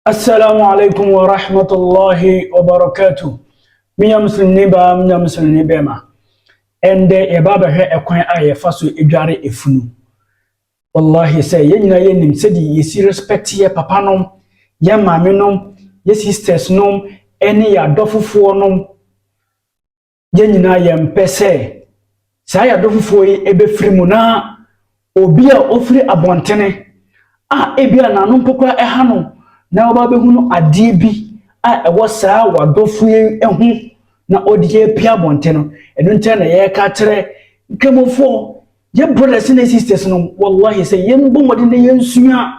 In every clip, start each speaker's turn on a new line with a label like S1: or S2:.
S1: Assalamu alaikum wa rahmatullahi wa barakatuh. Minya musulmini baa, minya musulmini bɛma. Ɛndɛ yɛba abɛhwɛ ɛkwan a yɛfa so edware efunu. Wallahi sɛ yɛn nyinaa yɛnim sɛde yɛsi respect yɛ papa nom, yɛ maame nom, yɛ sisters nom, ɛne yɛ adɔfofoɔ nom. yɛn nyinaa yɛmpɛ sɛ saa yɛadɔ foforɔ yi ɛbɛfiri mu na obi a ɔfiri abɔntene a ebi a n'ano mpo koraa ɛha no na ɔba bɛhunu adeɛ bi a ɛwɔ saa wadɔfo yi ho na ɔde apia abɔnten no ɛno nkyɛn na yɛreka kyerɛ nkramofoɔ yɛ brothers ne sisters no wallahi sɛ yɛmbɔ mmɔden na yɛnsua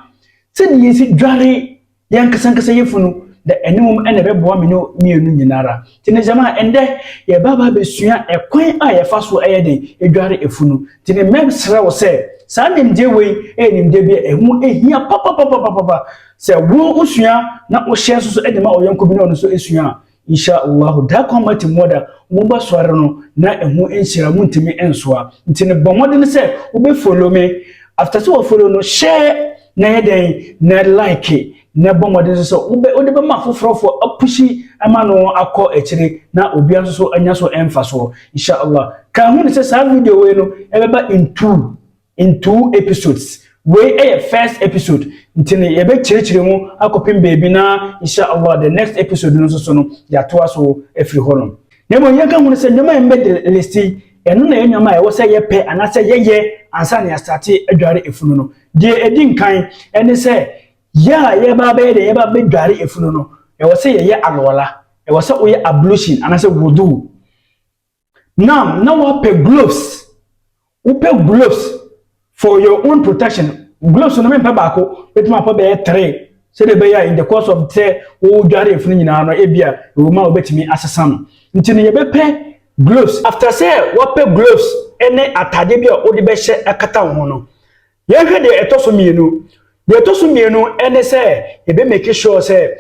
S1: sɛdeɛ yɛsi dware yɛn ankasa ankasa yɛ funu na ɛne wɔn na ɛbɛboa me ne mmienu nyinaa ara te ne gyama ɛndɛ yɛba ba abɛsua ɛkwan a yɛfa so ɛyɛ den edware efunu te ne mmɛm srɛ wo sɛ saa nimdeɛ wei ɛyɛ nimdeɛ bi a ɛho ehia papapapapapa sɛ wo osua na wohyɛ nso so ɛde ma ɔyɔnko bi na ɔno nso esua a Insha Allahu daa kwan mu ati mmoa da, wɔn ba soare no na ɛho nhyira montumi nsoa. Nti no bɔ mmɔden sɛ wobɛ follow me, after sɛ wa follow no share na yɛ dɛn na like na bɔ mmɔden nso sɛ wobɛ wode bɛma afoforɔ fo apushi ama no akɔ akyire na obia nso so anya so ɛmfa soɔ. Insha Allah ka ho ne sɛ saa video wei no ɛbɛba in two in two episodes wei yɛ first episode nti no yɛbɛkyerɛkyerɛ mu akɔpem baabi na insha allah the next episode no nso so no yɛatoa so afiri hɔ nom. Na mmom yɛnka ho no sɛ nneɛma a yɛn bɛde list yi ɛno na ɛyɛ nneɛma a ɛwɔ sɛ yɛpɛ anaasɛ yɛyɛ ansa na yɛasate adware efunu no deɛ ɛdi nkan ɛne sɛ yɛ a yɛba abɛyɛ deɛ yɛba abɛdware efunu no ɛwɔ sɛ yɛyɛ alwala ɛwɔ sɛ woyɛ ablution anaasɛ wudu Now na wapɛ gloves wopɛ gloves for your own protection gloves no mempɛ baako bɛtumi apɛ bɛyɛ three sɛdeɛ ɛbɛyɛ in the course of sɛ wodware afunu nyinaa no ebia ɛwɔ mu a wobɛtumi asesa no nti no yɛbɛpɛ gloves after sɛ wapɛ gloves ne atadeɛ bi a wode bɛhyɛ akata wo ho no Yɛnhwɛ deɛ ɛtɔ so mmienu. Deɛ ɛtɔ so mmienu ne sɛ yɛbɛ make sure sɛ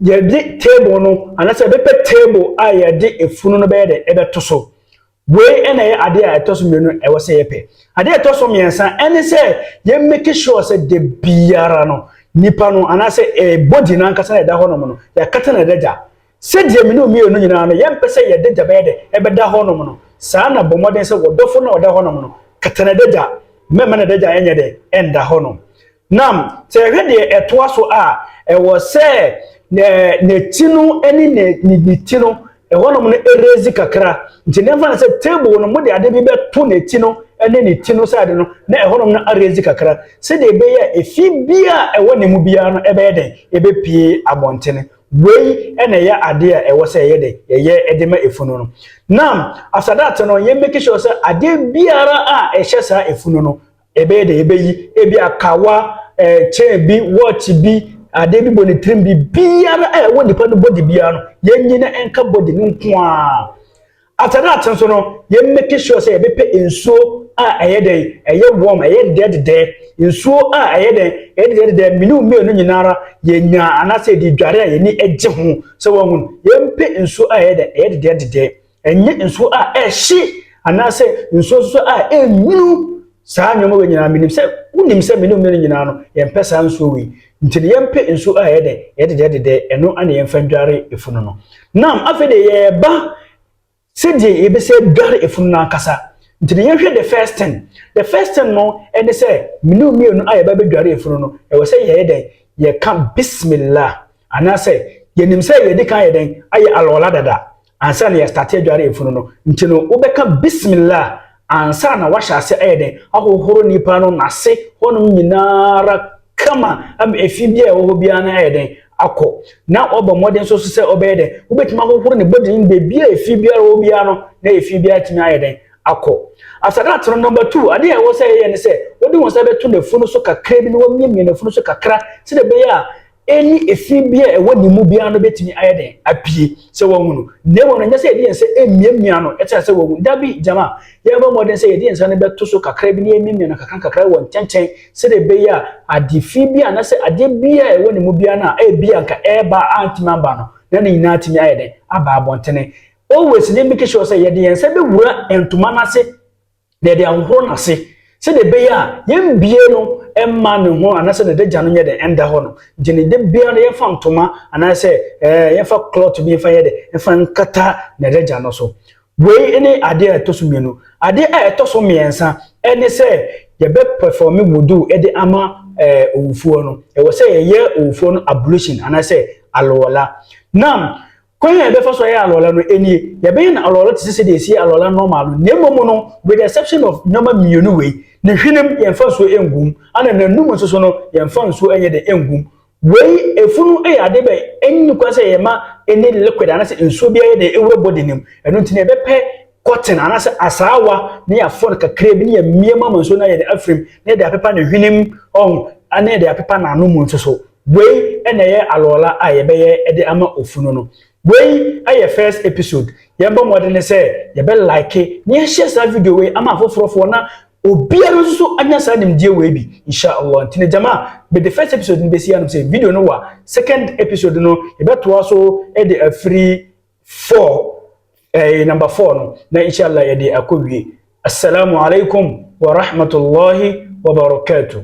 S1: yɛde table no anaasɛ yɛbɛpɛ table a yɛde efunu no bɛyɛ dɛ ɛbɛto so. Wei na ɛyɛ adeɛ a ɛtɔ so mmienu ɛwɔ sɛ yɛpɛ. Adeɛ ɛtɔ so mmiɛnsa ne sɛ yɛ make sure sɛ de biara no nipa no anaasɛ eh, body no ankasa na ɛda hɔnom no yɛakata no adagya. Sɛdeɛ me ne wo mmienu nyina ara no yɛmpɛ sɛ yɛn adagya bɛyɛ dɛ bɛda hɔnom no, saa ara na bɔ mmɔden sɛ w'ɔdɔfo no a ɔda hɔnom no, kata n'adagya, mɛmma n'adagya nyɛ dɛ nda hɔnom. Na sɛ yɛhwɛ deɛ ɛtoa so a, ɛwɔ sɛ n'akyi no ne ne ti no, ɛhɔnom no ɛrezi kakra, nti na yɛmfa no sɛ table no mode ade bi bɛto n'akyi no ne ne ti no side no na ɛhɔnom no arezi kakra, sɛdeɛ ɛbɛyɛ a ɛfi biara a ɛwɔ ne mu biara no ɛbɛyɛ dɛn, ɛbɛpue abɔntene. Wei na ɛyɛ adeɛ a ɛwɔ sɛ yɛyɛ dɛ, yɛyɛ de ma efunu no. Na as at that no, yɛ make sure sɛ adeɛ biara a ɛhyɛ saa efunu no, ɛbɛyɛ dɛ yɛbɛyi. Ebi a kawa, eh, chain bi, watch bi, adeɛ bi bɔ ne tirim bi, biara a ɛwɔ nipa no body biara no, yɛnyi na ɛnka body no nko ara. After that nso no, yɛ make sure sɛ yɛbɛpɛ nsuo a ɛyɛ dɛn, ɛyɛ warm, ɛyɛ dedɛdedɛɛ. Nsuo a ɛyɛ dɛn, ɛyɛ dedɛdedɛɛ, me ne wo mmienu nyinaa ara yɛnya anaasɛ yɛde dware a yɛni gye ho. Sɛ wɔhu no, yɛmpɛ nsuo a ɛyɛ dɛn, ɛyɛ dedɛdedɛɛ. Ɛnyɛ nsuo a ɛhye anaasɛ nsuo nso a ɛnwunu Saa nneɛma wei nyinaa, menim sɛ wonim sɛ me ne ɔmene no nyinaa no, yɛmpɛ saa nsuo wei. Nti no yɛmpe nsuo a ɛyɛ dɛ, ɛyɛ dedɛɛdedɛ, ɛno na yɛmfa ndware efunu no. Nam, afei deɛ yɛreba sɛdeɛ yɛbɛsɛ adware efunu no ankasa. Nti no yɛnhwɛ the first thing. The first thing no ɛne sɛ, me ne mmienu a yɛba bɛdware efunu no, ɛwɔ sɛ yɛyɛ dɛn? Yɛka Bismillah. Anaasɛ yɛnim sɛ yɛadi kan ayɛ dɛn? Ayɛ Alwala dada. Ansa na yɛstate adware efunu no, nti no wobɛka Bismillah ansa na wahyɛ ase ayɛ dɛn? Ahohoro nipa no nase hɔnom nyina ara kama ama efi biara a ɛwɔ hɔ biara no ayɛ dɛn? Akɔ. Na wabɔ mmɔden nso so sɛ ɔbɛyɛ dɛn? Wobɛtumi ahohoro ne body no baabi a efi biara wɔ hɔ biara no na efi biara atumi ayɛ dɛn? Akɔ. After that no number two, adeɛ a ɛwɔ sɛ yɛyɛ ne sɛ wode wo nsa bɛto n'afunu so kakra bi na wamiamia n'afunu so kakra sɛdeɛ ɛbɛyɛ a ne efi bi a ɛwɔ ne mu biara no bɛtumi ayɛ dɛn apue sɛ wahu no na mmom no nyɛ sɛ yɛde yɛn nsa mmiamia no kyerɛ sɛ wahu da bi gyama yɛbɔ mmɔden sɛ yɛde yɛn nsa no bɛto so kakra bi na yɛmmiamia no kakra kakra wɔ ntɛntɛn sɛdeɛ ɛbɛyɛ a ade fi bi a na sɛ adeɛ bi a ɛwɔ ne mu biara no a ɛbi a nka ɛreba a antumi amba no na ne nyinaa atumi ayɛ dɛn aba abɔntene always ne make sure sɛ yɛde yɛn nsa bɛwura ntoma no ase na yɛde ahohoro n'ase sɛdeɛ ɛbɛyɛ a yɛmbie no mma ne ho anaasɛ ne dagya no nyɛ dɛ ɛnda hɔ no nti ne de bia no yɛmfa ntoma anaasɛ ɛɛ eh, yɛmfa cloth bi mfa yɛ dɛ mfa nkata ne dagya no so wei ne adeɛ a ɛtɔ so mmienu adeɛ a ɛtɔ so mmiɛnsa ɛne sɛ yɛbɛpɛfɔme wudu de ama ɛɛ eh, owufoɔ no ɛwɔ sɛ yɛyɛ owufoɔ no ablution anaasɛ alɔla nam Kwan a yɛbɛfa so ayɛ alɔla no, enie, Yɛbɛyɛ no alɔla te sɛ sɛdeɛ yɛsiyɛ alɔla normal no, na mmom no, with the exception of nnoɔma mmienu wei, Ne hwenem, yɛmfa nsuo ngu mu, ɛna n'anum nso so no, yɛmfa nsuo nyɛ dɛn ngu mu. Wei, efunu yɛ adeɛ bi a ɛnni kwan sɛ yɛma any liquid anaasɛ nsuo biara yɛ dɛn ɛwura body no mu, ɛno nti no yɛbɛpɛ cotton anaasɛ asaawa na yɛafɔ no kakraa bi na yɛamia mu ama nsuo no ayɛ dɛn afirim, na yɛde apepa ne hwenem, ɔho, na yɛde apepa n'ano mu nso so. Wei na ɛyɛ alɔɔla a yɛbɛyɛ de ama ofunu no. Wei yɛ first episode. Yɛbɔ mmɔdene sɛ yɛbɛ like na yɛahyɛ saa video wei ama afoforɔfoɔ na obiara nso anya saa nimdeɛ wei bi insha Allah. Nti no gyama mede first episode no bɛsi anom sɛ video no wa second episode no yɛbɛtoa so de afiri four eh, number four no na insha Allah yɛde akɔ wie. Assalamu alaikum wa rahmatullahi wa barakatuh.